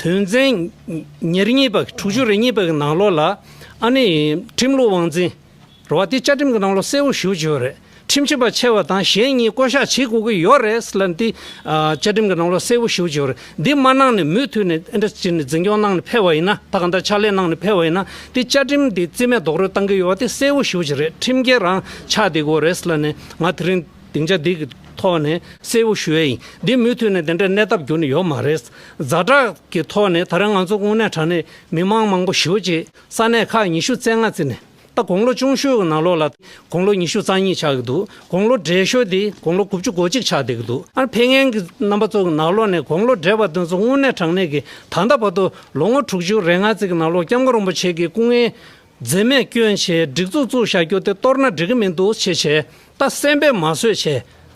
དོན་ཚན་ཉེར་གཉིས་པ་དྲུག་ཅུ་རེ་གཉིས་པ་གི་ནང་ལོགས་ལ་ཨ་ནི་ཁྲིམས་ལུགས་དབང་འཛིན་ར་བ་དེ་བཅའ་ཁྲིམས་ཀྱི་ནང་ལོགས་གསལ་བོ་ཞུ་བྱས་ཡོད་རེད་ཁྲིམས་ཆད་པ་ཆེ་བ་དང་གཞན་གཉིས་བསྐོ་གཞག་བྱེད་དགོས་ཀྱི་ཡོད་རེད་ཟེར་ལབ་འདི་བཅའ་ཁྲིམས་ཀྱི་ནང་ལོགས་གསལ་བོ་ཞུ་བྱས་ཡོད་རེད་འདི་མ་གནང་ནས་མུས་མཐུད་ནས་ཨིན་དྲ་སྤྱི་ནས་འཛིན་སྐྱོང་གནང་ནས་ཕེབས་པ་ཡིན་ན་ད་ག་འདྲ་ཕྱག་ལས་གནང་ནས་ཕེབས་པ་ཡིན་ན་དེ་བཅའ་ཁྲིམས་འདི་རྩིས་མེད་རྡོག་རོལ་གཏང་གི་ཡོད་བ་དེ་གསལ་བོ་ཞུ་བྱས་རེད་ཁྲིམས་འགལ་རང་ཆགས་འདི་དགོས་རེད་ཟེར་ལབ་ནས་ང་དེ་རིང། སྡིངས་ཆ་འདི་གི་ཐོག་ནས་གསལ་བོ་ཞུ་ཡ་ཡིན། འདི་མུས་མཐུད་ནས་འདི་འདྲའི་གནས་སྟབས་འགྱུར་ནི་ཡོད་མ་རེད། གཟའ་གྲགས་ཀྱི་ཐོག་ནས་ད་རེ་ང་ཚོ་དངོས་གནས་དྲ་གནས་མི་མང་མང་པོ་ཞོལ་གྱི་ས་གནས་ཁག་ཉི་ཤུ་རྩེ་ལྔ་རྩེ་ནས་ད་དགུང་ལོ་ཅུང་ཤོས་ཀྱི་ནང་ལོགས་ལ་དགུང་ལོ་ཉི་ཤུ་རྩ་གཉིས་ཆགས་ཀྱི་འདུག་དགུང་ལོ་བགྲེས་ཤོས་དེ་དགུང་ལོ་དགུ་བཅུ་གོ་གཅིག་ཆགས་བསྡད་ཀྱི་འདུག་ཨ་ཕས་ངན་གྱི་རྣམ་པ་ཚོ་གི་ནང་ལོགས་ནས་དགུང་ལོ་བགྲེས་པ་དེ་ཚོ་དངོས་གནས་དྲང་གནས་ཀྱི་ད་ལྟ་བར་དུ་ལོ་ངོ་དྲུག་ཅུ་རེ་ལྔ་རྩེ་གྱི་ནང་ལོགས་སྐྱབས་མགོན་རིན་པོ་ཆེ་ཀྱི་སྐུ་ངལ་འཛེམ་མེད་སྐྱོན་ཆེའི་སྒྲིག་འཛུགས་བཙུགས་བཞག་རྒྱུ་དེ་གཏོར་ན་འགྲིག་གི་མི་འདུག་ཆེས་ཆེ་ད་གསན་པས་མ་བཟོད་བྱས་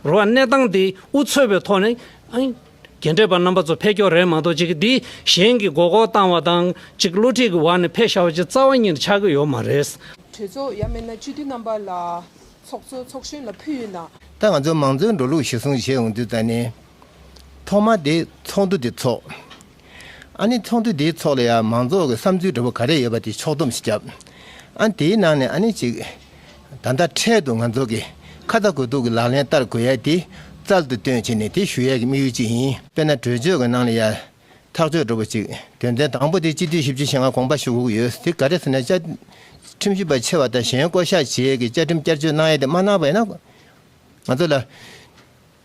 རོགས་ཨ་གནས་སྟངས་འདི་འུ་ཚོད་པའི་ཐོག་ནས་རྒན་གྲས་པ་རྣམ་པ་ཚོ་ཕེ་སྐྱོ་རེད་མ་གཏོགས་ཅིག་འདི་གཞན་གྱི་མགོ་སྐོར་བཏང་བ་དང་ཅིག་བསླུ་བྲིད་ཀྱི་བར་ནས་ཕེ་ཤ་བ་ཅིག་རྩ་བ་ཉིད་ཆགས་ཀྱི་ཡོད་མ་རེད། གྲོས་ཚོགས་ཡ་མེད་ན་སྤྱི་འཐུས་རྣམ་པ་ལ་ཚོགས་གཙོ་ཚོགས་གཞོན་ལ་ཕུལ་ཡོད་ན། ད་ང་ཚོ་མང་གཙོའི་འགྲོ་ལུགས་གཞིར་བཟུང་བྱས་འོང་དུས་ད་ནི། ཐོག་མ་དེ་ཚོགས་འདུ་དེ་ཚོགས། ཨ་ནི་ཚོགས་འདུ་དེའི་ཚོགས་ལ་ཡང་མང་ཚོགས་ཀྱི་བསམ་ཚུལ་འདྲ་པོ་ག་རེ་ཡོད་པ་དེ་ཕྱོགས་བསྡོམས་ཤིག་བརྒྱབ། ཨ་དེའི་ནང་ནས་ཨ་ནི་གཅིག། ད་ལྟ་འཕྲལ་དུ་ང་ཚོ་གིས་ཁ་བརྡ་དགོས་གཏུགས་ཀྱི་ལག་ལེན་བསྟར་དགོས་ཡས་དེ་རྩལ་དུ་བཏོན་བྱས་ནས་དེ་ཞུ་ཡས་ཀྱི་དམིགས་ཡུལ་གཅིག་ཡིན། དཔེར་ན་གྲོས་ཆོད་ཀྱི་ནང་ལ་ཡང་ཐག་གཅོད་འདྲ་པོ་གཅིག་དོན་ཚན་དང་པོ་དེ་སྤྱི་འཐུས་བཞི་བཅུ་ཞེ་ལྔ་དགོངས་པ་ཞུ་དགོས་ཀྱི་ཡོད་དེ་ག་རེ་ཟེར་ན་བཅའ་ཁྲིམས་ཞིབ་པ་ཆེ་བ་དང་གཞན་བསྐོ་བཞག་བྱེད་ཡས་ཀྱི་བཅའ་ཁྲིམས་བསྐྱར་བཅོས་གནང་ཡས་དེ་མ་གནང་བས་ན་ང་ཚོ་ལ་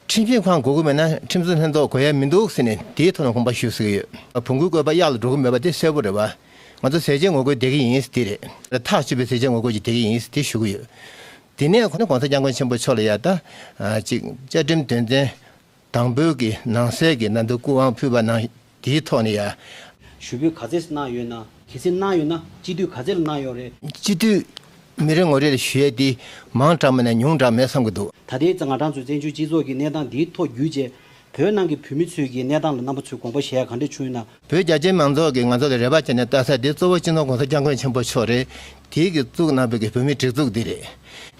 ཁྲིམས་འཛིན་ཁང་དགོས་ཀྱི་མེད་ན་ཁྲིམས་བཟོ་ལྷན་ཚོགས་དགོས་ཡ་མི་འདུག་ཟེར་ནས་དེའི་ཐོག་ལ་དགོངས་པ་ཞུ་ཟེར་གྱི་ཡོད། བོང་གུའི་བཀོད་པ་གཡག་ལ་འགྲོ་གི་མེད་པ་དེ་གསལ་པོ་རེད་བ། ང་ཚོ་ཟས་བཅད་ངོ་རྒོལ་བསྡད་ཀྱི་ཡིན་དེ་རེད། ཐག་གཅོད་པའི་ཟས་བཅད་ངོ་རྒོལ་གྱི་བསྡད་ཀྱི་ཡིན་དེ་ཞུ་གི་ཡོད། དེ་ནས་ཁོང་གོང་ས་སྐྱབས་མགོན་ཆེན་པོ་མཆོག་ལ་ཡར་ལྟ། གཅིག་བཅའ་ཁྲིམས་དོན་ཚན་དང་པོའི་ནང་གསལ་གྱི་ནང་དུ་སྐུ་དབང་ཕུལ་བ་ནང་དེའི་ཐོག་ནས་ཡ། ཞུ་འབོད་ག་ཚད་གནང་ཡོད་ན། གལ་སྲིད་གནང་ཡོད་ན་སྤྱི་འཐུས་ག་ཚད་ལ་གནང་ཡོད་རེད། སྤྱི་འཐུས་མི་རེ་ངོ་རེ་ལ་ཞུ་ཡས་དེ་མང་དྲག་མེད་ན་ཉུང་དྲག་མེད་བསམ་གྱི་འདུག། ད་ལྟའི་ང་གྲངས་ཚོས་བཙན་བྱོལ་སྤྱི་ཚོགས་ཀྱི་གནས་སྟངས་འདིའི་ཐོག་བརྒྱུད་རྗེས། བོད་ནང་གི་བོད་མི་ཚོས་ཀྱི་གནས་སྟངས་ལ་རྣམ་པ་ཚོས་དགོངས་པ་བཞེས་ཡ་ག་འདྲ་བྱུང་ཡོད་ན། བོད་རྒྱ་ཆེའི་མང་ཚོགས་ཀྱིས་ང་ཚོ་ལ་རེ་བ་བྱས་ནས་བལྟ་ས་དེ་གཙོ་བོ་སྤྱི་ནོར ྋགོང་ས ྋསྐྱབས་མགོན་ཆེན་པོ་མཆོག་རེད། དེའི་གིས་བཙུགས་གནང་བའི་གི་བོད་མིའི་སྒྲིག་འཛུགས་འདི་རེད།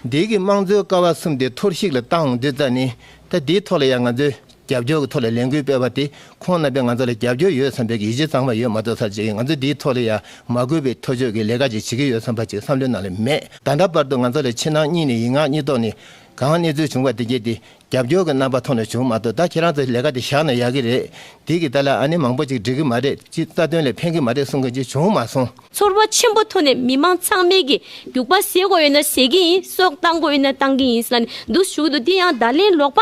འདིའི་གིས་དམངས་གཙོའི་ཀ་བ་གསུམ་དེ་འཐོར་བཤིག་ལ་བཏང་འདོད་ཙ་ནི། ད་དེའི་ཐོག་ལ་ཡ་ང་ཚོས་རྒྱབ་སྐྱོར་གྱི་ཐོག་ལ་ལས་འགུལ་སྤེལ་བ་དེ་ཁོང་རྣམ་པས་ང་ཚོ་ལ་རྒྱབ་སྐྱོར་ཡོད་བསམ་པའི་ཡིད་ཆེས་གཙང་མ་ཡོད་མ་གཏོགས་ཚར་རྗེས་ང་ཚོ་འདིའི་ཐོག་ལ་ཡ་མ་གུས་པའི་ཐོ་ཅོ་གི་ལས་ཀ་ཅིག་བྱེད་ཀྱི་ཡོད་བསམ་པ་ཅིག་བསམ་བློའི་ནང་ལ་མེད། ད་ལྟ་བར་དུ་ང་ཚོ་ལ་ཕྱི་ནང་གཉིས་ནས་ཡིག་ངག་གཉིས་ཐོག་ནས་གང་གནས་ཚུལ་བྱུང་བ་དེ་བརྒྱད་དེ་རྒྱབ་སྐྱོར་གྱི་རྣམ་པ་ཐོག་ནས་བྱུང་མ་གཏོགས་ད་ཁྱེད་རང་ཚོས་ལས་ཀ་དེ་བཞག་ན་ཡག་གི་རེད་དེ་གི་ད་ལ་ཨ་ནེ་མང་པོ་ཅིག་འགྲིག་གི་མ་རེད་ཅི་རྩ་དོན་ལ་ཕན་གི་མ་རེད་གསུང་མཁན་ཅིག་བྱུང་མ་སོང། ཚོར་བ་ཆེན་པོ་ཐོག་ནས་མི་མང་ཚང་མས་གི་རྒྱུག་པ་ཟེར་དགོས་ཡོད་ན་ཟེར་གི་ཡིན་སྲོག་བཏང་དགོས་ཡོད་ན་བཏང་གི་ཡིན་ས་ནས་འདུག་ཞུ་གི་འདུག་དེ་ཡང་བརྡ་ལན་ལོག་པ།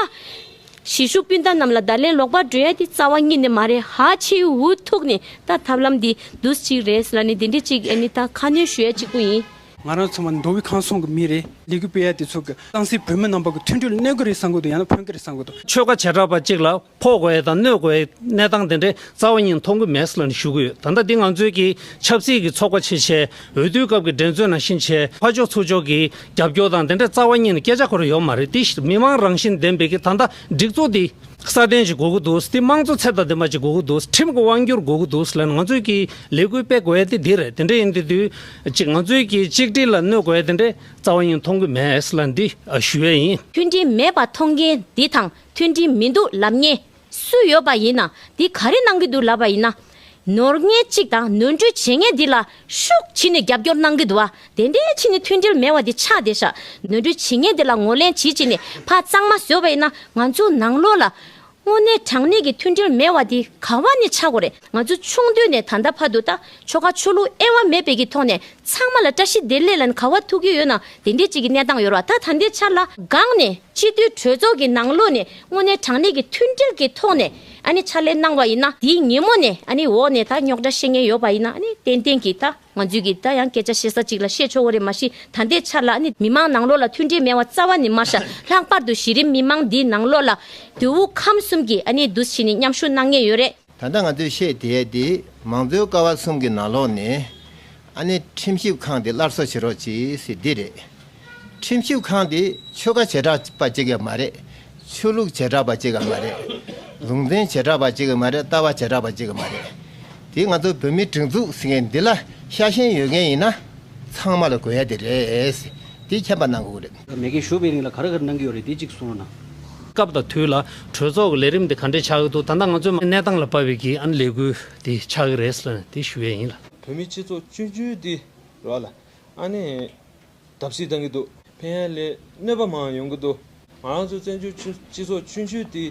གཞིས་བཞུགས་སྤུན་ཟླ་རྣམས་ལ་ད་ལན་ལོག་པར་འགྲོ་ཡ་དེ་རྩ་བ་གཉིས་ནི་མ་རེད་ཧ་ཆེའི་འུ་ཐུག་ནས་ད་ཐབས་ལམ་འདི་འདུས་གཅིག་རེད་ཟེར་ལ་ནི་དེ་འདྲི་གཅིག་ཨེ་ནི་ད་ཁ་སྣོན་ཞུ་ཡ་གཅིག་པོ་ཡིན། ང་རང་ཚང་མ་མདོ་དབུས་ཁང་སོང་གི་མི་རེད། ལས་འགུལ་སྤེལ་ཡ་དེ་ཚོ་གི་ཏང་སྲིད་བོད་མི་རྣམ་པ་གི་མཐུན་འགྲིག་གནས་གི་རེད་བསམ་གི་འདུག་ཡང་ན་ཕོན་གི་རེད་བསམ་གི་འདུག། ཆོལ་ཁ་བྱེ་བྲག་པ་གཅིག་ལ་ཕོག་དགོས་ཡ་དང་གནོད་དགོས་ཡའི་གནས་སྟངས་དེ་འདྲའི་རྩ་བ་གཉིས་མཐོང་གི་མེད་ཟེར་ལ་ནི་ཞུ་གི་ཡོད་ད་ལྟ་འདི་ང་ཚོའི་གི་ཆབ་སྲིད་གི་ཚོགས་པ་ཆེ་ཆེའི་འོས་བསྡུའི་སྐབས་གི་འགྲན་རྩོད་ནང་ཤིན་ཆེའི་ཕ་ཕྱོགས་ཚུར་ཕྱོགས་གི་རྒྱབ་སྐྱོར་དང་དེ་འདྲའི་རྩ་བ་གཉིས་ནི་སྐད་ཆ་ཁོ་རེ་ཡོད་མ་རེད་དེ་ཕྱིར་མི་དམངས་རང་བཞིན་ལྡན་པའི་གི་ད་ལྟ་སྒྲིག་འཛུགས་འདི་སྲ་བརྟན་ཞིག་དགོས་ཀྱི་འདུག་དེ་དམངས་གཙོ་ཚད་ལྡན་ལྡན་པ་ཞིག་དགོས་ཀྱི་འདུག་ཁྲིམས་ཀྱི་དབང་སྒྱུར་དགོས་ཀྱི་འདུག་ལན་ང་ཚོས་ཀྱི་ལས་འགུལ་སྤེལ་དགོས་ཨེ་དེ་འདི་རེད་དེ་འདྲ་ཡིན་དེ་དུས་གཅིག་ང་ཚོས་ཀྱི་གཅིག་སྒྲིལ་ལ་གནོད་དགོས་ཨེ་དེ་འདྲའི་རྩ་བ་གཉིས་མཐོང་གི་མེད་ལན་འདི་ཞུ་ཡས་ཡིན། མཐུན་སྒྲིལ་མེད་པ་མཐོང་མཁན་འདི་དང་མཐུན་སྒྲིལ་མི་འདུག་ལབ་ངེས་སུ་ཡོད་པ་ཡིན་ན་དེ་ག་རེ་གནང་གི་འདུག་ལབ་པ་ཡིན་ན། ནོར་ངན་གཅིག་དང་ནོར་འཁྲུལ་བྱེད་ངན་འདི་ལ་ཤུགས་ཕྱིས་ནས་རྒྱབ་སྐྱོར་གནང་གི་འདུག་ཨ་དེ་འདྲའི་ཕྱིས་ནས་མཐུན་སྒྲིལ་མེད་བ་དེ་ཆགས་བསྡད་ཤག་ནོར་འཁྲུལ་བྱེད་ངན་འདི་ལ་ངོ་ལེན་བྱེད་ཅིག་ནས་ཕ་གཙང་མ་བཟོས་པ་ཡིན་ན་ང་ཚོ་ནང་ལོག་ལ། དངོས་གནས་དྲང་གནས་ཀྱི་མཐུན་སྒྲིལ་མེད་བ་དེ་ག་བ་ནས་ཆགས་དགོས་རེད། ང་ཚོ་ཆུང་དུས་ནས་ད་ལྟ་བར་དུ་ད་ཆོ་ག་ཆོ་ལུགས་ཨེ་བ་མེད་པའི་གི་ཐོག་ནས་ཚང་མ་ལ་བཀྲ་ཤིས་བདེ་ལེགས་ལན་ག་བ་ཐུག་གི་ཡོད་ན་དེ་འདྲའི་ཅིག་གི་གནས་སྟངས་ཡོད་ར་ད་ད་ལྟའི་ཆར་ལ་སྒང་ནས་སྤྱི་འཐུས་གྲོས་ཚོགས་ཀྱི་ནང་ལོགས་ནས་དངོས་གནས་དྲང་གནས་ཀྱི་མཐུན་སྒྲིལ་གི་ཐོག་ནས་ཨ་ནི་ཕྱག་ལས་གནང་བ་ཡིན་ན་དེའི་ཉིན་མོ་ནས་ཨ་ནི་འོག་ནས་ད་རྙོག་དྲ་ཤེས་ངེས་ཡོད་པ་ཡིན་ན་ཨ་ནི་ཏན་ཏན་གྱི་ད་ང་ཚོས་གི་ད་ཡང་སྐད་ཆ་བཤད་ས་ཅིག་ལ་བཤད་ཆོག་གོ་རེ་མ་གཞི་ད་ལྟའི་ཆར་ལ་ཨ་ནི་མི་མང་ནང་ལོགས་ལ་མཐུན་སྒྲིལ་མེད་བ་རྩ་བ་ནི་མ་ཤ་ལྷག་པར་དུ་གཞི་རིམ་མི་མང་འདིའི་ནང་ལོགས་ལ་དུས་དབུ་ཁམས་གསུམ་གྱི་ཨ་ནི་འདུ་ཤེས་ནི་མཉམ་ཞུགས་གནང་ངེས་ཡོད་རེད། ད་ལྟ་ང་ཚོས་བཤད་དེའི་དེ་མང་གཙོའི་ཀ་བ་གསུམ་གྱི་ནང་ལོགས་ནས། ཨ་ནི་ཁྲིམས་ཞིབ་ཁང་དེ་སླར་གསོ་བྱེད་རོགས་གྱིས་ཟེར་འདི་རེད། ཁྲིམས་ཞིབ་ཁང་དེ་ཆོལ་ཁ་བྱེ་བྲག་པ་གཅིག་གི་མ་རེད། ཆོས་ལུགས་བྱེ་བྲག་པ་གཅིག་གི་མ་རེད། ལུང་ཚན་བྱེ་བྲག་པ་གཅིག་གི་མ་རེད་ལྟ་བ་བྱེ་བྲག་པ་གཅིག་གི་མ་རེད། དེ་ང་ཚོ་བོད་མིའི་སྒྲིག་འཛུགས་ཟེར་མཁན་འདི་ལ་ཤ་ཞེན་ཡོད་མཁན་ཡིན་ན། ཚང་མ་ལ་གོ་ཡ་དེ་རེད། དེ་མཁྱེན་པ་གནང་དགོས་རེད། མེ་སྐད་ཞུ་བའི་རིང་ལ་ག་རེ་ག་རེ་གནང་གི་ཡོད་རེད་དེ་གཅིག་གསུངས་རོགས་གནང། སྐབས་དང་དུས་ལ་གྲོས་ཚོགས་ཀྱི་ལས་རིམ་དེ་ག་འདྲས་ཆགས་ཀྱི་འདུག་ད་ལྟ་ང་ཚོའི་མ་གནས་སྟངས་ལ་དཔར་བའི་གིས་ཨ་ནི་ལས་འགུལ་དེ་ཆགས་ཀྱི་རེད་ཟེར་ན་དེ་ཞུ་ཡས་ཡིན་ལ། བོད་མི་སྤྱི་ཚོགས་བཅུ་བཅུའི་དེ་རོགས་ལ་ཨ་ནི་བརྡབ་གསིག་གཏང་གི་འདུག་ཕན་ཡ་ལས་གནོད་པ་མང་ཡོང་གི་འདུག་ང་རང་ཚོའི་བཙན་བྱོལ་སྤྱི་ཚོགས་བཅུ་བཅུའི་དེ།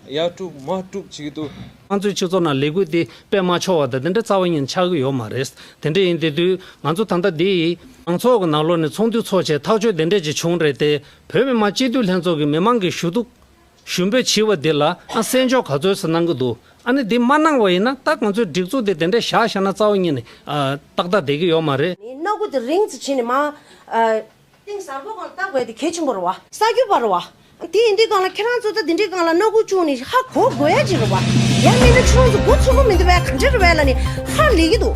ཡར་དཀྲུགས་མར་དཀྲུགས་བྱེད་ཀྱི་འདུག། ང་ཚོའི་སྤྱི་ཚོགས་ནང་ལས་འགུལ་འདི་སྤེལ་མ་ཆོག་བ་དང་དེ་འདྲའི་རྩ་བ་ཉིད་ཆགས་ཀྱི་ཡོད་མ་རེད། དེ་འདྲ་ཡིན་དེ་དུས་ང་ཚོ་ད་ལྟ་འདི། མང་ཚོགས་ཀྱི་ནང་ལོགས་ནས་ཚོགས་འདུ་ཚོགས་ཆེད་ཐག་གཅོད་དེ་འདྲས་ཅིག་བྱུང་རེད་དེ། བོད་མི་མང་སྤྱི་འཐུས་ལྷན་ཚོགས་ཀྱི་མི་མང་གི་ཞུ་གཏུག། ཞུ་འབོད་བྱིས་བ་འདི་ལ་ཨ་གསན་འཇོག་ག་ཚོད་ཟེར་གནང་གི་འདུག་ཨ་ནི་འདི་མ་གནང་བ་ཡིན་ན་ད་ང་ཚོའི་སྒྲིག་འཛུགས་འདི་དེ་འདྲས་བཞག་བཞག་ན་རྩ་བ་ཉིད་ནས། ཏག་ཏག་བསྡད་ཀྱི་ཡོད་མ་རེད། ནི་སྣ་དགུ་དེ་རིང་ཚུ་བྱས་ནས་མ། ཏིང་ཟར་པོ་གང་ལ་བཏགས་པའི་དེ་གལ་ཆེན་པོ་རུ་བ། ས་རྒྱུ་བ་རུ་བ། དེ་ཡིན་དུས་གང་ལ་ཁྱེད་རང་ཚོ་ལྟ་དེ་འདྲའི་གང་ལ་སྣ་དགུ་ཅུང་ནི་ཧ་གོ་དགོས་ཡ་གཅིག་རུ་བ། ཡང་མིན་ན་ཁྱེད་རང་ཚོ་མགོ་ཚོམ་པོ་མི་འདུག་བས་གང་འདྲ་རུ་བས་ལ་ནི་ཧ་ལས་ཀྱི་འདུག།